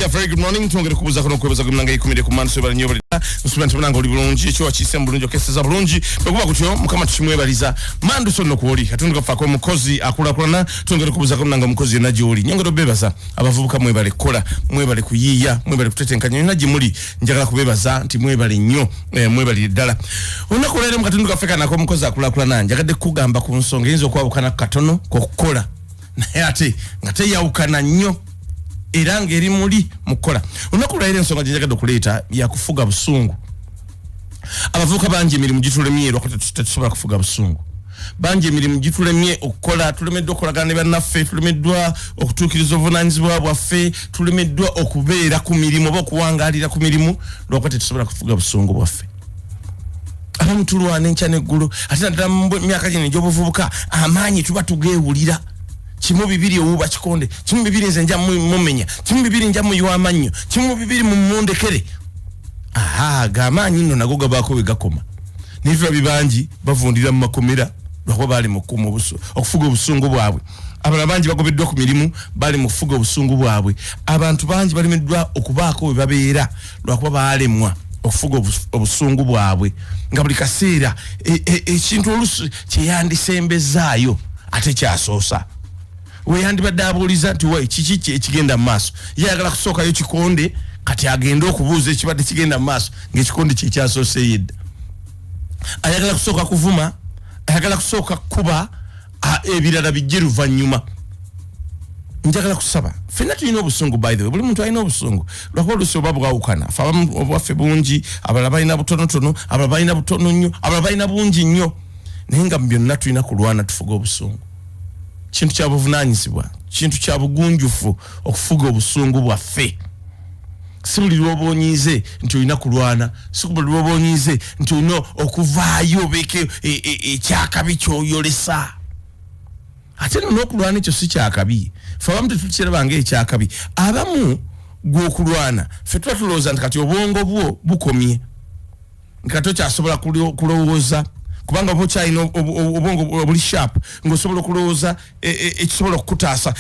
Yeah, very good morning twongere kubuza kuno kwebaza ku mlanga ikumire ku manso bali nyobali nsubira nti mlanga oli bulungi ekyo wakise mu bulungi okese za bulungi bekuba kutyo mukama tukimwebaliza mandu sonno kwoli katundu kafa ko mukozi akula kulana twongere kubuza ku mlanga mukozi na joli nyongero bebaza abavubuka mwebale kola mwebale kuyiya mwebale kutetenkanya yona jimuli njagala kubebaza nti mwebale nyo e, eh, mwebale dala onako lero mu katundu kafa kana ko mukozi akula kulana njagadde kugamba ku nsonga yinzo kwabukana katono kokukola naye ate nga teyawukana nnyo era ng'eri muli mu kukola olunaku lwayira ensonga gye njagadde okuleeta yakufuga busungu abavubuka bangi emirimu gitulemye lwakuba tetusobola kufuga busungu bangi emirimu gitulemye okukola tulemeddwa okukolagana ne bannaffe tulemeddwa okutuukiriza obuvunanyizibwa bwaffe tulemeddwa okubeera ku mirimu oba okuwangaalira ku mirimu lwakuba tetusobola kufuga busungu bwaffe abamu tulwana enkya neggulu ate naddala mu myaka gino egyobuvubuka amaanyi tuba tugeewulira kimu bibiri owuba kikonde kimu bibiri nze nja mumenya kimu bibiri nja muyiwa amannyo kimu bibiri mumundekere aha gamaanyi nno nago gabaako we gakoma naye tuba bibangi bavundira mu makomera lwakuba baali mukuma okufuga obusungu bwabwe abala bangi bagobeddwa ku mirimu bali mu kufuga obusungu bwabwe abantu bangi balemeddwa okubaako we babeera lwakuba baalemwa okufuga obusungu bwabwe nga buli kaseera e, e, ekintu e, olusi kyeyandisembezaayo ate kyasoosa weyandibadde abuuliza nti wa kiki ki ekigenda mu maaso yeyagala kusookayo kikonde kati agende okubuuza ekibadde kigenda mu maaso ngaekikonde kyekyasooseyo edda ayagala kusooka kuvuma ayagala kusooka kukuba ah, ebirala bijje luvannyuma njagala kusaba fenna tulina obusungu by the way buli muntu alina obusungu lwakuba olusi oba bwawukana fe abamu obwaffe bungi abalala balina butonotono abalala balina butono nnyo abalala balina bungi nnyo naye nga mubyonna tulina kulwana tufuga obusungu kintu kyabuvunanyizibwa kintu kyabugunjufu okufuga obusungu bwaffe si buli lwoba onyiize nti olina kulwana si buli lwoba onyiize nti olina okuvaayo obeeko e, e, ekyakabi kyoyolesa ate no nokulwana ekyo si kyakabi fe abamu tetukiraba nga ekyakabi abamu gwokulwana fe tuba tulowooza nti kati obwongo bwo bukomye nga tokyasobola kulowooza kubanga oba okyalina obwongo obuli sharp ngaosobola okulowooza e, e, ekisobola okukutaasa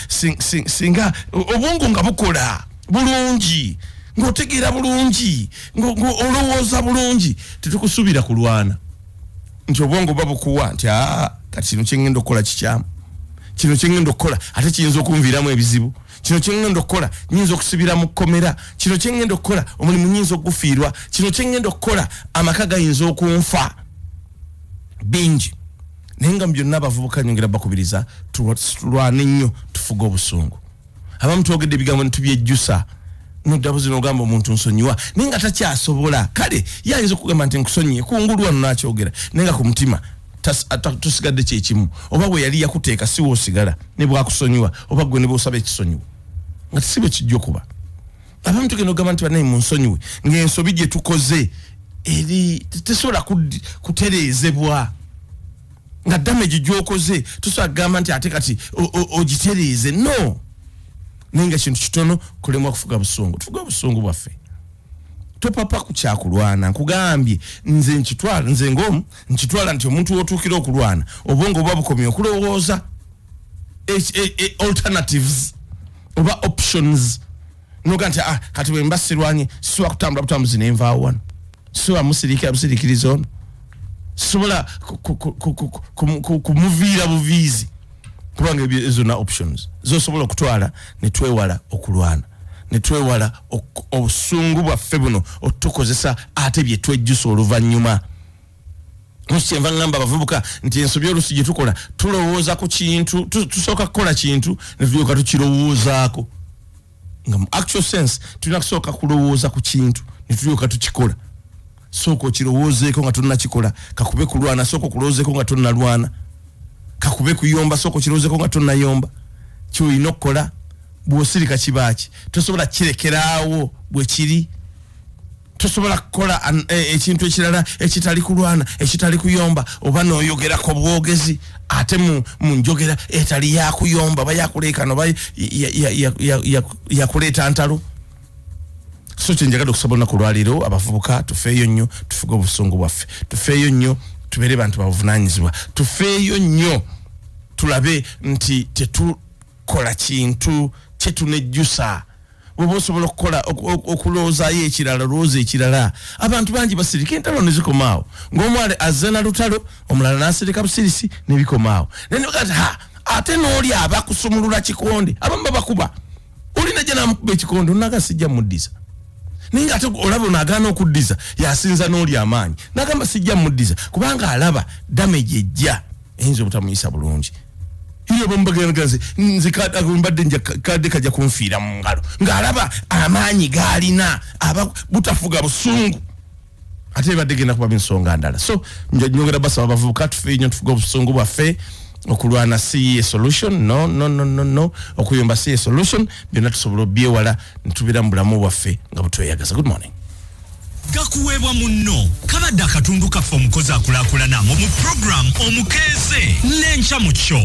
singa obwongo nga bukola bulungi ngaotegeera bulungi ngaolowooza bulungi tetukusuubira kulwana nti obwongo oba bukuwa nti aa kati kino kyengenda okukola kikyamu kino kyengenda okukola ate kiyinza okunviiramu ebizibu kino kyengenda okukola nyinza okusibira mu kkomera kino kyengenda okukola omulimu nyinza okugufiirwa kino kyengenda okukola amaka gayinza okunfa bingi naye nga mu byonna abavubuka nyongera bakubiriza tulwane nnyo tufuge obusungu abamu twogedde ebigambo nitubyejjusa nodabuzi nogamba omuntu nsonyiwa naye nga takyasobola kale yayinza okugamba nti nkusonyiye kungulu wano nakyogera naye nga ku mutima tusigadde kyekimu oba we yali yakuteeka si woosigala ne bwakusonyiwa oba gwe ne bwosaba ekisonyiwa nga tisi bwe kijja okuba abamu tugenda okugamba nti banaye munsonyiwe ng'ensobi gye tukoze eri tesobola kutereezebwa nga damage gyokoze tusobola kugamba nti ate kati ogitereeze no naye nga kintu kitono kulemwa kufuga busungu tufuge obusungu bwaffe topapa ku kyakulwana nkugambye nze nkitwala nze ngomu nkitwala nti omuntu wotuukira okulwana obwongo oba bukomye okulowooza e, e, e, alternatives oba options noga nti ah, kati bwemba sirwanye sisobola kutambula butambuzi nenvaawo wano sisobola musirikira busirikiriza ono sisobola kumuviira buviizi kubanga ebyo zonna options zosobola okutwala netwewala okulwana netwewala obusungu bwaffe buno otutukozesa ate byetwejjusa oluvannyuma kyenva ngamba abavubuka nti ensobi olusi gyetukola tulowooza ku kintu tusooka kukola kintu netulyoka tukirowoozaako nga mu actual sense tulina kusooka kulowooza ku kintu ne tulyoka tukikola sooka okirowoozeeko nga tonnakikola kakube kulwana sooka okulowoozeeko nga tonnalwana kakube kuyomba sooka okirowoozeeko nga tonnayomba kyolina okukola bw'osirika kibaaki tosobola kirekeraawo bwe kiri tosobola kukola e, ekintu ekirala ekitali kulwana ekitali kuyomba oba noyogera ku bwogezi ate mu njogera etali yakuyomba oba yakuleekana oba yakuleeta ntalo so kyenjagala okusaba olunaku lwaliro abavubuka tufeeyo nnyo tufuge obusungu bwaffe tufeeyo nnyo tubeere bantu babuvunanyizibwa tufeeyo nnyo tulabe nti tetukola kintu kyetunejjusa bwoba osobola okukola okulowoozaayo ekirala olowooza ekirala abantu bangi basirika entalo nezikomaawo ngaomwale azze na lutalo omulala nasirika busirisi nebikomaawo nenegati ha ate nooli aba kusumulula kikonde abamu babakuba olina ja namukuba ekikonde onaga sijja muddiza naye nga ate olaba onagaana okuddiza yasinza nooli amaanyi nagamba sijja muddiza kubanga alaba damage ejja eyinza obutamuyisa bulungi iyo bamubageragaze nze mbadde nja kadde kajja kunfiira mu ngalo ng'alaba amaanyi gaalina aba butafuga busungu ate ebadde genda kuba ensonga ndala so nyongera basaba abavubuka tufe nyo tufuga obusungu bwaffe okulwana si ye solution no no no no no okuyomba si ye solution byonna tusobola obyewala netubira mu bulamu bwaffe nga butweyagaza good morning gakuweebwa munno kabadde akatundu kaffe omukozi akulakulana mu mu program omukeeze n'enkya mu kyo